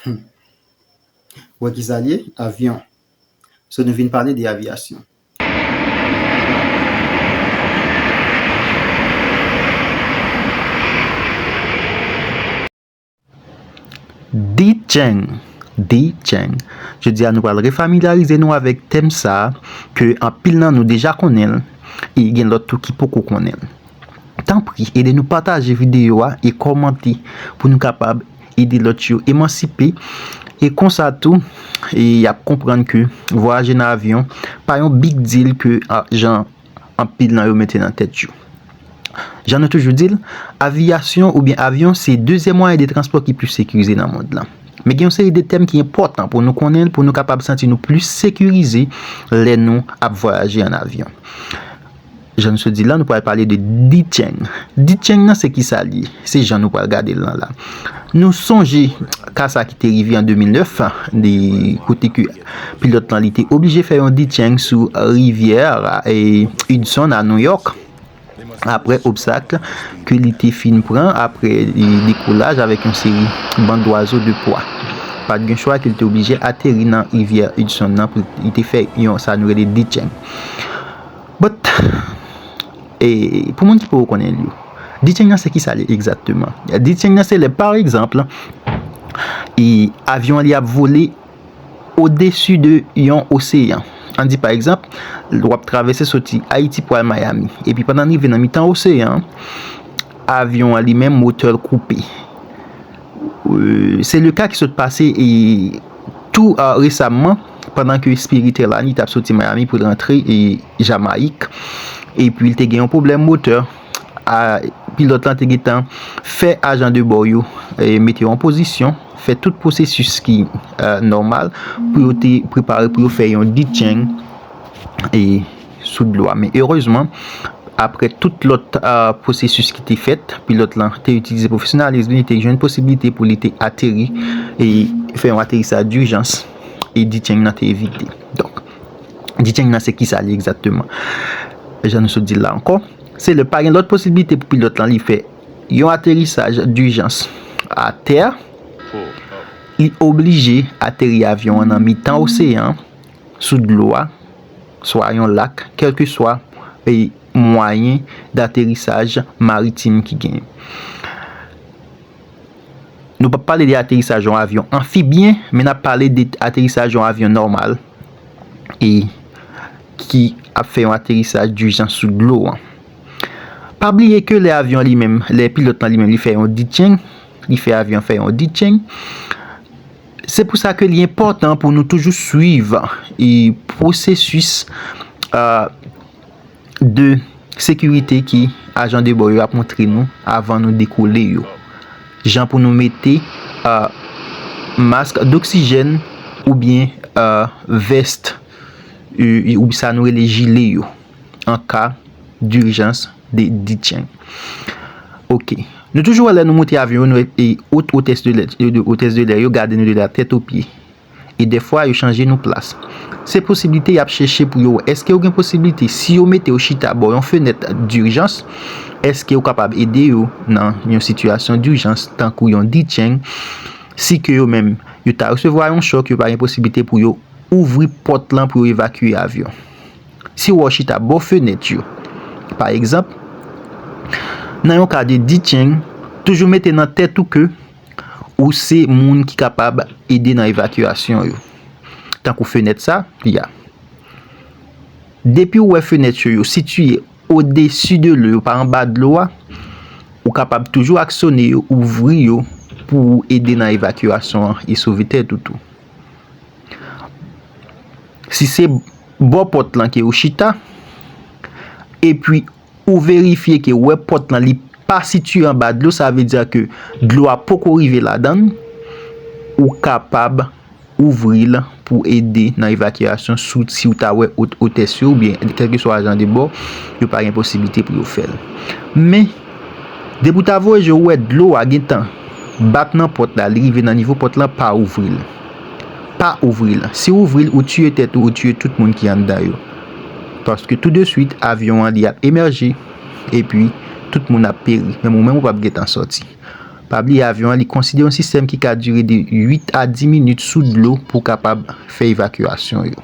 Humm wè kisa liye avyon so nou vin pale de avyasyon. Djeng Djeng Jodi a nou pral refamilyarize nou avèk tèm sa ke anpil nan nou deja konnen l e gen lòt tou ki poko konnen l. Tanpri ede nou pataje videyo a e kòmante pou nou kapab ede lòt yo emansipe, e konsa tou y ap konprann ke vwayaje nan avyon pa yon big deal ke jan anpil nan yo mete nan tèt yo. Jan nou toujou di l, aviyasyon oubyen avyon se dezyèm mwayen de transpò ki plis sekirize nan mond lan. Men gen yon seri de tèm ki enpòtan pou nou konnen pou nou kapab santi nou plis sekirize lè nou ap vwayaje an avyon. Jan nou sot di la, nou pral pale de Dicheng. Dicheng nan se ki sa li ye? Se jan nou pral gade l nan la. Nou sonje ka sa ki te rive an 2009, de kote ke pilòt lan li te oblije fè yon Dicheng sou rivyè Hudson a Nouyòk, apre obstak ke li te fin pran, apre dekolaj avèk yon seri ban dwazo de pwa. Pa t gen chwa ke li te oblije ateri nan rivyè Hudson nan pou li te fè yon sa nou rele Dicheng. But e pou moun ki poko konnen l yo. Dethieng nan se kisa li egzakteman? Dethieng nan se lè pa egzanp e avyon an li ap vole odesu de yon oseyan. An di pa egzanp w ap travèse soti Ayiti pou al Miami. E pi pandan l rive nan mitan oseyan an, avyon an li menm motè l koupe. Se le ka ki sot pase e tou resamman. pandan ke Spiritelani tap soti Miami pou l rantre Jamayik epi l te gen yon pwoblèm motè, pilòt lan te gentan fè ajan de bò yo mete yo an pozisyon, fè tout pwosesis ki nòmal pou yo te prepare pou yo fè yon detcheng sou dlo a. Men erezman, apre tout lòt pwosesis ki te fèt, pilòt lan te itilize pwofesyonalism li, li te jwenn posibilite pou li te ateri e fè yon aterisaj dijans. e Dicheng nan te evite. Donk, Dicheng nan se kisa li egzakteman? Jan nou sot di l la ankò, se lè pa gen lòt posiblite pou pilòt lan li fè yon aterisaj dijans atè, li oblije ateri avyon an nan mitan oseyan an, sou dlo a, swa yon lak, kèlkeswa mwayen daterisaj maritim ki genyen. Nou pap pale de aterisaj yon avyon anfibyen, men nap pale de aterisaj yon avyon nòmal e ki ap fè yon aterisaj dijans sou dlo an. Pa bliye ke lè avyon li menm, lè pilòt lan li menm li fè yon ditcheng, li fè avyon fè yon ditcheng, se pou sa ke li enpòtan pou nou toujou swiv e pwosesis a. de sekirite ke ajan de bò yo ap montre nou avan nou dekole yo. Jan pou nou mete mask doksijèn oubyen vest ou sa nou rele jile yo an ka durjans de ditcheng. Ok. Nou toujou wè lè nou monte avyon yo nou wè ot otès de lè yo gade nou de la tèt o pye. e dèfwa yo chanje nou plas. Se posiblite y ap chèche pou yo wè èske yo gen posiblite si yo mete yo chita bò yon fenèt durjans, èske yo kapab ede yo nan yon sitiyasyon durjans tankou yon ditcheng si ke yo menm yo ta resevwa yon chòk yo pa gen posiblite pou yo ouvri pòt lan pou yo evakye avyon. Si w wè w chita bò fenèt yo, pa egzanp, nan yon ka de ditcheng, toujou mete nan tèt ou ke. Ou se moun ki kapab ede nan evakyasyon yo. Tankou fenèt sa, y a. Depi ou wè fenèt yo yo sitiye odesi de lou yo pa anba dlo a, ou kapab toujou aksone yo, ouvri yo pou ou ede nan evakyasyon an e sove tèt ou tou. Si se bò pòt lan ke ou chita, epi. Ou verifye ke wè pòt lan li pa sitye anba dlo sa vle dia ke dlo a poko rive ladann, ou kapab ouvri l pou ede nan evakyasyon sou si ou ta wè ot otès yo oubyen kèlkeswa jan de bò yo pa gen posiblite pou yo fè l. Men, depi ou ta voye je ou wè dlo a gen tan bat nan pòt la li rive nan nivo pòt lan pa ouvri l. Pa ouvri l. Si ou ouvri l ou tiye tèt ou ou tiye tout moun ki anndan yo. Paske tou de swit avyon an li ap emèje epi tout moun ap peri menm ou menm ou pap gentan sòti. Pa bliye avyon an li konside yon sistèm ki ka dire de 8 a 10 minit sou dlo pou kapab fè evakyasyon yo.